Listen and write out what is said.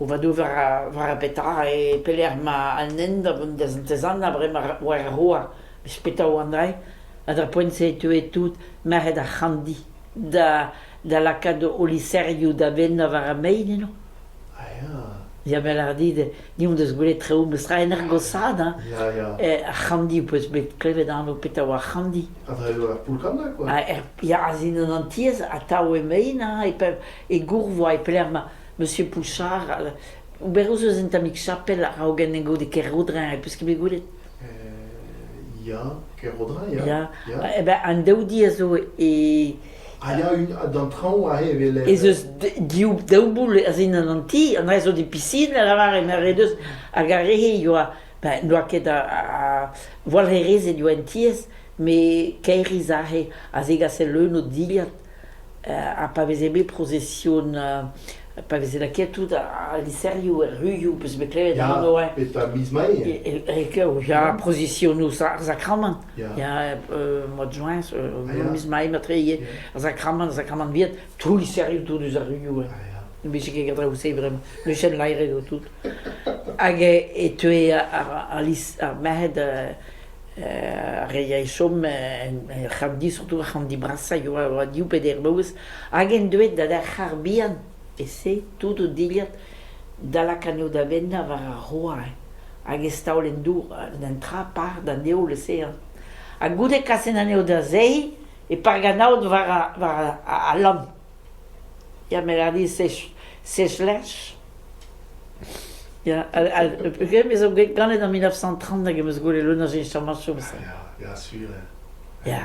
O vadou war ar petra e pelec'h emañ an hent da vont da Santez-Anna bremañ war ar Roa, eus petra oan aze? Ha d'ar poent-se e teue tout merc'hed ar C'hanndi da da lakaat o liserioù da vennañ war ar mein eno. Ya 'vel a dit, ni hon deus gwelet traoù memes tra en Ergosad hein. Ya ya. Ar c'hanndi ho peus bet klevet anv petra oa c'hanndi? Ha dre ur poull-kanna quoi. Ha er Yarzhin an Antiez atav emaint hein, e Gourvoa e pelec'h ma Monsieur Pouchard, oberoù eus un tammig chapel a-raogen en gode Kerrodrin, e peus ket bet gwelet? Ya, Kerrodrin ya. Ya, eh ben an daoudi a zo e Ez eus div daou boull a zindan an ti, an ene zo di pisin, a lavar, eme re deus, hag ar re-se ioa, ben, n'oa ket a, a walc'herezed ioa en tiez, me kaeriz aze, a zegase leun o dilhad, ha pa veze bet prozesion, pa veze lakaet tout al liserioù er ruioù, peus bet klevet an enoe? Ya, e miz Mae. E, e, e, ya, prozesionoù ar sakramant. Ya, mod joints, miz mai matreye, ar zakramant, zakramant viet, troul serriou tout eus ar ruiou, ne bije ket ket draoù-se bremañ, le chen laeret o tout. Hag e teue ar merc'hed ar re chom ar c'hamdi, surtout ar c'hamdi brasa, a oa div peder boz, hag en deuet da d'ar c'har bihan. E-se tout o dilhad da lakaat o davennañ war ar roañv hag ez taol en dour un tra par d'an heol-osean. Ha goude kasen anezho da zeiz e park an aod war al lann. Ya, ma lâr dit sech sech lerch. Ya, peogwir me zo ganet en mil nav c'hant trant hag em eus gwelet leun a cheñchamañchoù. Ya, ya, sur. Ya.